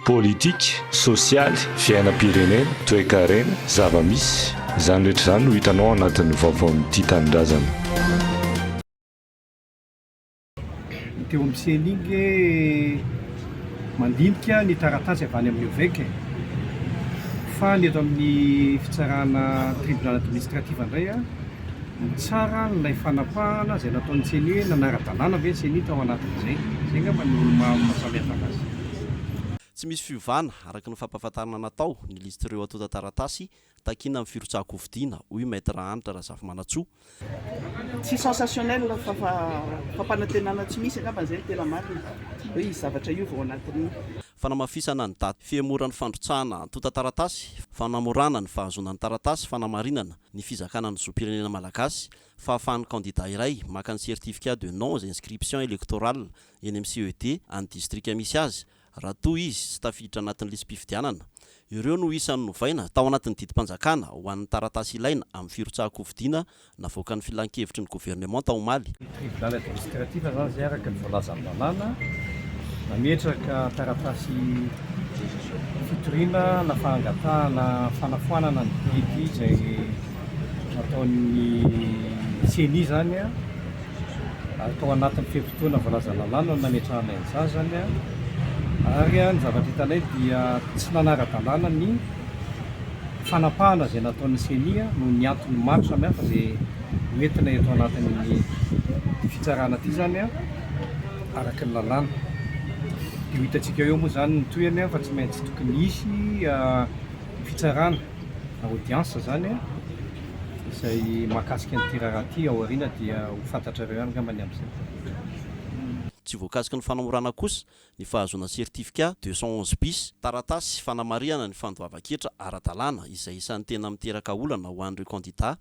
Politika, sosialy, fiainam-pirenena, toekarena, zava-misy, izany rehetra izany no hitanao ao anatin'ny vaovaon'ny Tia Tanindrazana. Teo amin'ny Cenigue mandinika ny taratasy avy any amin'ny Ovec fa ny eto amin'ny fitsarana Tribunal Administratif indray mitsara an'ilay fanapahana izay nataon'ny Ceni hoe nanara-dalàna ve ny Ceni tao anatin'izay. Izay angamba no maha-samihafa anazy. Tsy misy fiovana, araka ny fampahafantarana natao, ny lisitr'ireo antontan-taratasy takiana amin'ny firotsahan-kofidina, hoy Maître Hanitra Razafimanantsoa. Tsy sensationnel fa fampanantenana tsy misy angamba izay no tena marina hoe hisy zavatra hiova ao anatin'ny. Fanamafisana ny daty fihemoran'ny fandrotsahana antontan-taratasy, fanamorana ny fahazoana ny taratasy fanamarinana ny fizakana ny zom-pirenena malagasy, fahafahan'ny kandida iray maka ny certificat de non-inscription électorale, eny amin'ny CED an'ny distrika misy azy, raha toa izy tsy tafiditra anatin'ny lisi-pifidianana. Ireo no isan'ny novaina tao anatin'ny didim-panjakana ho an'ny taratasy ilaina amin'ny firotsahan-kofidina navoakan'ny Filan-kevitry ny Governemanta omaly. Ny Tribunal Administratif izany izay araka ny voalazan'ny lalàna nametraka taratasy fitoriana na fangatahana fanafoanana ny didy izay nataon'ny ceni izany. Tao anatin'ny fe-potoana voalaza lalàna no nametrahanay ny sazany ary ny zavatra hitanay dia tsy nanara-dalàna ny fanapahana izay nataon'ny ceni noho ny antony maro samihafa izay hoentina eto anatin'ity fitsarana ity izany araka ny lalàna. Dia ho hitantsika eo moa izany ny tohiny fa tsy maintsy tokony hisy fitsarana. audience zany izay mahakasika an'ity raharaha ity ao aoriana dia ho fantatrareo ihany angamba ny amin'izay fotoana. Tsy voakasiky ny fanamorana kosa ny fahazoana certificat deux cent onze bis, taratasy fanamarihana ny fandoavan-ketra ara-dalàna izay isan'ny tena miteraka olana ho an'ireo kandidà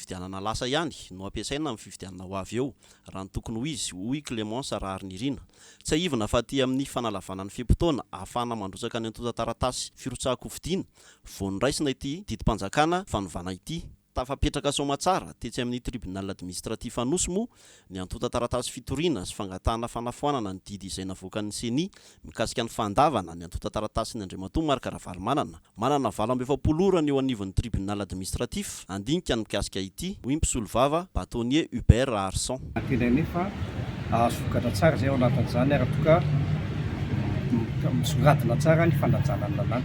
Fifidianana lasa ihany no ampiasaina amin'ny fifidianana ho avy eo, raha ny tokony ho izy, hoy Clémence Raharinirina. Tsiahivina fa aty amin'ny fanalavana ny fe-potoana ahafahana mandrotsaka ny antontan-taratasy firotsahan-kofidina vao noraisina ity didim-panjakana fanovana ity. Tafapetraka soamantsara tetsy amin'ny Tribunal Administratif Anosy moa ny antontan-taratasy fitoriana sy fangatahana fanafoanana ny didy izay navoakan'ny Ceni mikasika ny fandavana ny antontan-taratasin'i Andriamatoa Marc Ravalomanana, manana valo amby efapolo ora ny eo anivon'ny Tribunal Administratif, handinika ny mikasika ity, hoy ny mpisolovava, Bâtonnier Hubert Raharison. Nantelaina anefa hahasokatra tsara izay ao anatin'izany ary toa ka misongadina tsara ny fanajana ny lalàna.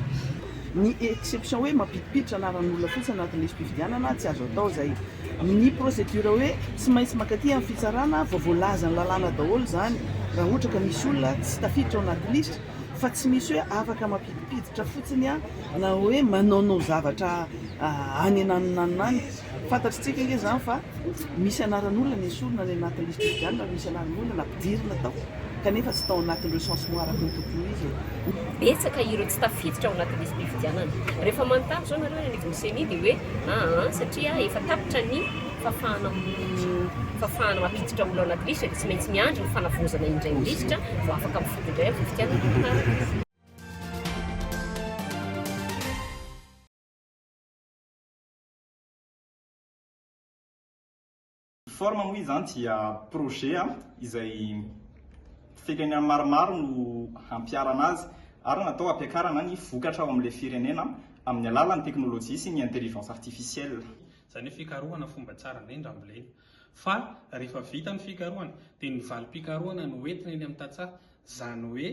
Ny exception hoe mampidipiditra anaran'olona fotsiny anatin'ny lisi-pifidianana tsy azo atao izay. Ny procédure hoe tsy maintsy mankaty amin'ny fitsarana vao voalazan'ny lalàna daholo izany raha ohatra ka misy olona tsy tafiditra ao anaty lisitra fa tsy misy hoe afaka mampidipiditra fotsiny aho na hoe manaonao zavatra any ananonanona any. Fantatritsika ange izany fa misy anaran'olona ny esorina any anaty lisitra fifidianana ary misy anaran'olona nampidirina tao kanefa tsy tao anatin'ny recensement araka ny tokony ho izy e. Betsaka ireo tsy tafiditra ao anaty lisi-pifidianana. Rehefa manontany izao nareo any amin'ny gcni dia hoe. aa satria efa tapitra ny fafana fafana mampiditra olona ao anaty lisitra dia tsy maintsy miandry ny fanavaozana indray ny lisitra vao afaka mifidy indray amin'ny fifidianana mahafaty. Forme moa izany dia projet izay fekany maromaro no hampiharana azy ary natao hampiakarana ny vokatra ao amin'ilay firenena amin'ny alalan'ny teknolojia sy ny intelligence artificielle. Izany hoe fikarohana fomba tsara indrindra ambolena. Fa rehefa vita ny fikarohana dia ny valim-pikarohana no entina eny amin'ny tantsaha. Izany hoe.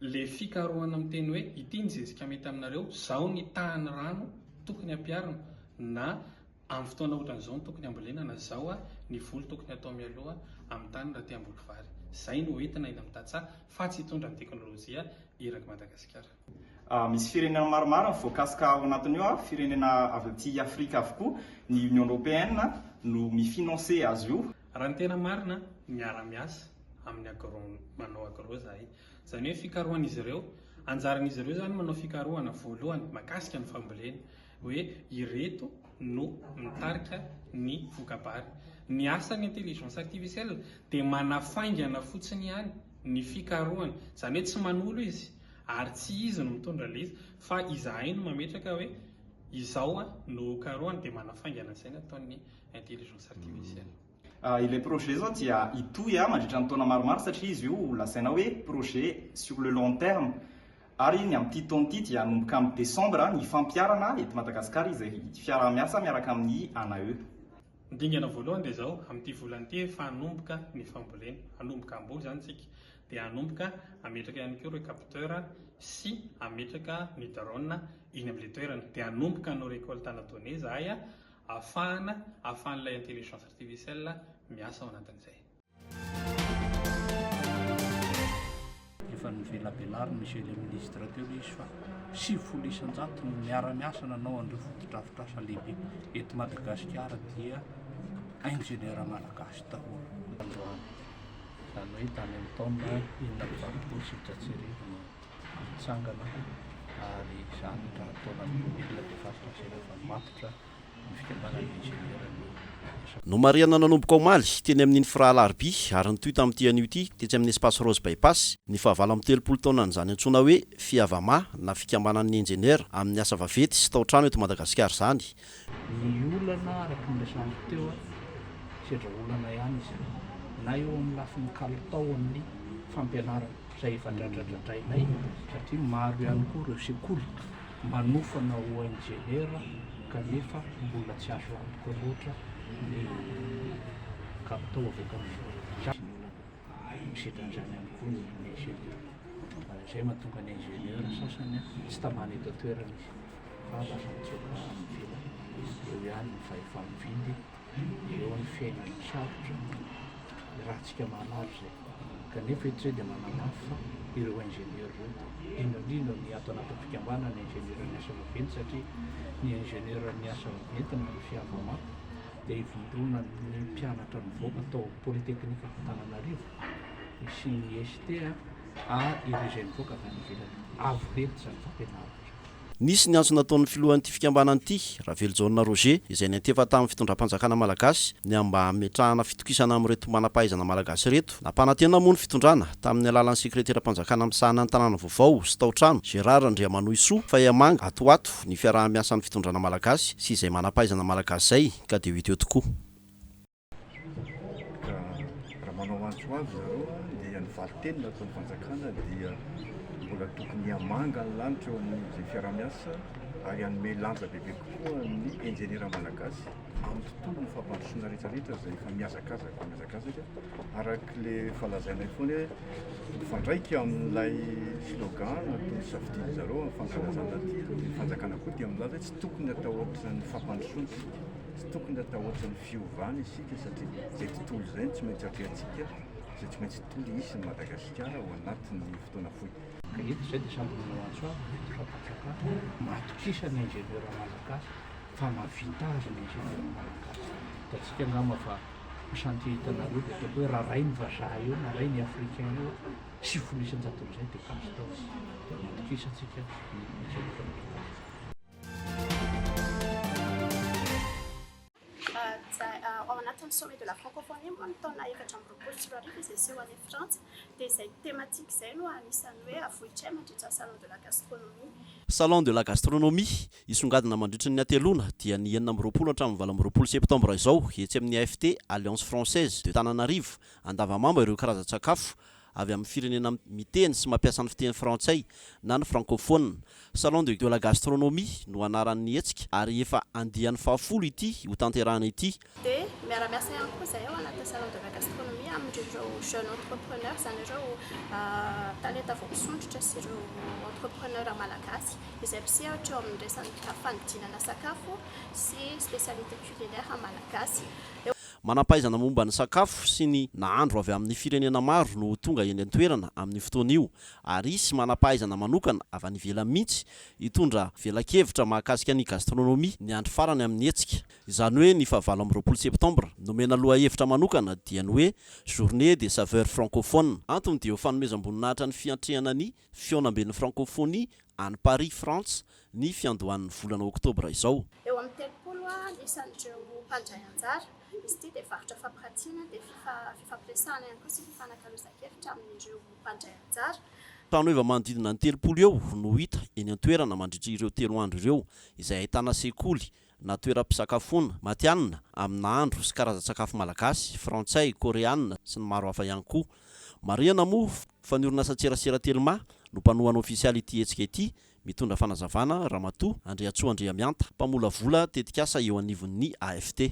Le fikarohana miteny hoe ity ny zezika mety aminareo, zao ny tahan'ny rano tokony ampiarina na amin'ny fotoana ohatran'izao no tokony hambolena na zao a ny voly tokony atao mialoha amin'ny tany raha te hamboly vary. Zay no entina eny amin'ny tantsaha fa tsy hitondra ny teknolojia eraky Madagasikara. Misy firenena maromaro ny voakasika ao anatin'io ary firenena avy aty Afrika avokoa, ny Union Européenne no mi-financer azy io. Raha ny tena marina, miara-miasa amin'ny agro, manao agro izahay. Izany hoe fikarohan'izy ireo, anjaran'izy ireo izany manao fikarohana voalohany mahakasika ny fambolena, hoe ireto no mitarika ny voka-bary. Ny asan'ny intelligence artificielle dia manafaingana fotsiny ihany ny fikarohana, izany hoe tsy manolo izy ary tsy izy no mitondra ilay izy fa izahay no mametraka hoe izao no karohina dia manafaingana izay ny ataon'ny Intelligence artificielle. Ilay projet zao dia hitohy mandritra ny taona maromaro satria izy io lazaina hoe projet sur le long terme ary ny amin'ity taona ity dia hanomboka amin'ny desambra ny fampiharana eto Madagasikara izay fiaraha-miasa miaraka amin'ny ANAE. Ny dingana voalohany dia izao, amin'ity volana ity efa hanomboka ny fambolena, hanomboka hamboly izany isika, dia hanomboka hametraka ihany koa ireo capteur sy hametraka ny drone eny amin'ilay toerana, dia hanomboka hanao récolte à la donnée izahay ahafahana ahafahan'ilay intelligence artificielle miasa ao anatin'izay. Efa novelabelarin'i Monsieur le Ministre teo ilay izy fa sivifolo isan-jato no miara-miasa nanao an'ireo fotodrafitrasa lehibe eto Madagasikara dia ingénieur malagasy daholo. Androany, izany hoe tany amin'ny taona enina amby valopolo sy efajato sy arivo no mitsangana ary izany ka nataonan'ny olona dia faritra an-tsaina fa matotra ny fikambanan'ny injeniera no resaka. Nomarihana nanomboka omaly, teny amin' ny Fra Alarobia, ary nitohy tamin'ity anio ity, tetsy amin'ny Espace Rose Bypass, ny fahavalo amin'ny telopolo taonan'izany antsoina hoe Fiavama na Fikambanan'ny Injeniera amin'ny asa vaventy sy tao-trano eto Madagasikara izany, Ny olana araka ny resahako teo, sedra olana ihany izay na eo amin'ny lafiny kalitao amin'ny fampianarana izay efa dradradradrainay satria maro ihany koa ireo sekoly manofana ho injeniera kanefa mbola tsy azo antoka loatra ny kalitao avy eto amin'ny. misedra an'izany ihany koa ny ingénieur. Izay no mahatonga ny ingénieur sasany tsy tamana eto an-toerana izy fa lasa mitsoaka any ivelany. Eo ihany ny fahefa-mividy, eo ny fiainan'ny sarotra, ny ratsika maromaro izay. Kanefa eto izay dia manamafy fa ireo ingénieur ireo, indrindra indrindra ny ato anatin'ny fikambanana ingénieur ny asa vaventy satria ny ingénieur ny asa vaventy no misy hava-maty, dia ivondronan'ny mpianatra nivoaka tao Polytechnic-Antananarivo, sy ny ECT ary ireo izay nivoaka avy any ivelany. Avo lenta izany fampianarana izany. Nisy ny antso nataon'ny filohan'ity fikambanana ity, Ravelojaona Roger, izay niantefa tamin'ny fitondram-panjakana malagasy, ny amin'ny mba hametrahana fitokisana amin'ireto manam-pahaizana malagasy ireto, Nampanantena moa ny fitondrana, tamin'ny alalan'ny sekreteram-panjakana misahana ny tanàna vaovao sy tao-trano, Gérard Andriamanohisoa, fa hihamanga ato ho ato ny fiaraha-miasan'ny fitondrana malagasy sy izay manam-pahaizana malagasy izay, ka dia ho hita eo tokoa. Ka raha manao antso ho avy zareo dia ny valin-teny nataon'ny fanjakana dia mbola tokony hihamanga ny lanitra eo amin'izay fiaraha-miasa ary hanome lanja bebe kokoa ny injeniera malagasy, amin'ny fotoanan'ny fampandrosoana rehetra rehetra izay efa mihazakazaka mihazakazaka araka le efa lazainay foana hoe mifandraika amin'ilay slogan na toy ny safidian'ny zareo amin'ny fankalazana aty ny fanjakana koa dia milaza hoe tsy tokony atao ohatran'ny fampandrosoana isika tsy tokony atao ohatran'ny fiovana isika satria izay tontolo izay no tsy maintsy atrehantsika izay tsy maintsy tontolo hisy ny Madagasikara ao anatin'ny fotoana fohy Eto izay dia sambonana ho antsoina ny Ben'ny Fapantsakana matokisa ny ingénieur malagasy Fa mahavita azy ny Général Malagasy. Hitantsika angamba fa io chantier hitanareo dia ataoko hoe raha ray ny vazaha eo na ray ny africain eo sivifolo isan-jato amin'izay dia azo atao dia matokisantsika ny Général Malagasy. Ao anatin'ny Sommet de la Francophonie moa ny taona efatra amby roapolo sy roa arivo izay seho any Frantsa dia izay thématique izay no anisan'ny hoe avohitray mandritra Salon de la Gastronomie. Salon de la Gastronomie Hisongadina mandritry ny hateloana, dia ny enina amby roapolo hatramin'ny valo amby roapolo septambra izao, etsy amin'ny AFT, Alliance Française de Tananarive, Andavamamba ireo karazan-tsakafo avy amin'ny firenena miteny sy mampiasa ny fiteny frantsay na ny frankofonina. Salon de la gastronomie no anaran'ny hetsika ary efa andiany fahafolo ity hotanterahana ity. Dia miara-miasa ihany koa izahay ao anatin'ny Salon de la Gastronomie amin'ireo Jeunes Entrepreneurs, izany ireo talenta vao misondrotra sy ireo Entrepreneurs malagasy izay mpisehatra eo amin'ny resaka fanodinana sakafo sy spécialités culinaires malagasy. Manam-pahaizana momba ny sakafo sy ny nahandro avy amin'ny firenena maro no tonga eny an-toerana amin'io fotoana io ary hisy manam-pahaizana manokana avy any ivelany mihitsy hitondra velakevitra mahakasika ny gastronomie ny andro farany amin'ny hetsika. Izany hoe ny fahavalo amby roapolo septambra nomena lohahevitra manokana dia ny hoe Journée des saveurs francophones. Antony dia ho fanomezam-boninahitra ny fiantrehana ny fihaonamben'ny Frankofonia any Paris, Frantsa, ny fiandohan'ny volana oktobra izao. Eo amin'ny telopolo isan'ireo mpandray anjara, izy ity dia varotra fampirantiana, dia fifampiresahana ihany koa sy fifanakalozan-kevitra amin'ireo mpandray anjara. Trano heva manodidina ny telopolo eo no hita eny an-toerana mandritra ireo telo andro ireo, izay ahitana sekoly, na toeram-pisakafoana, matihanina, amin'ny nahandro sy karazan-tsakafo malagasy, frantsay, koreanina, sy ny maro hafa ihany koa. Marihana moa fa ny orinasan-tserasera Telma no mpanohana ofisialy ity hetsika ity, mitondra fanazavana Ramatoa Andriantsoa Andriamihanta, mpamolavola tetikasa eo anivon'ny AFT.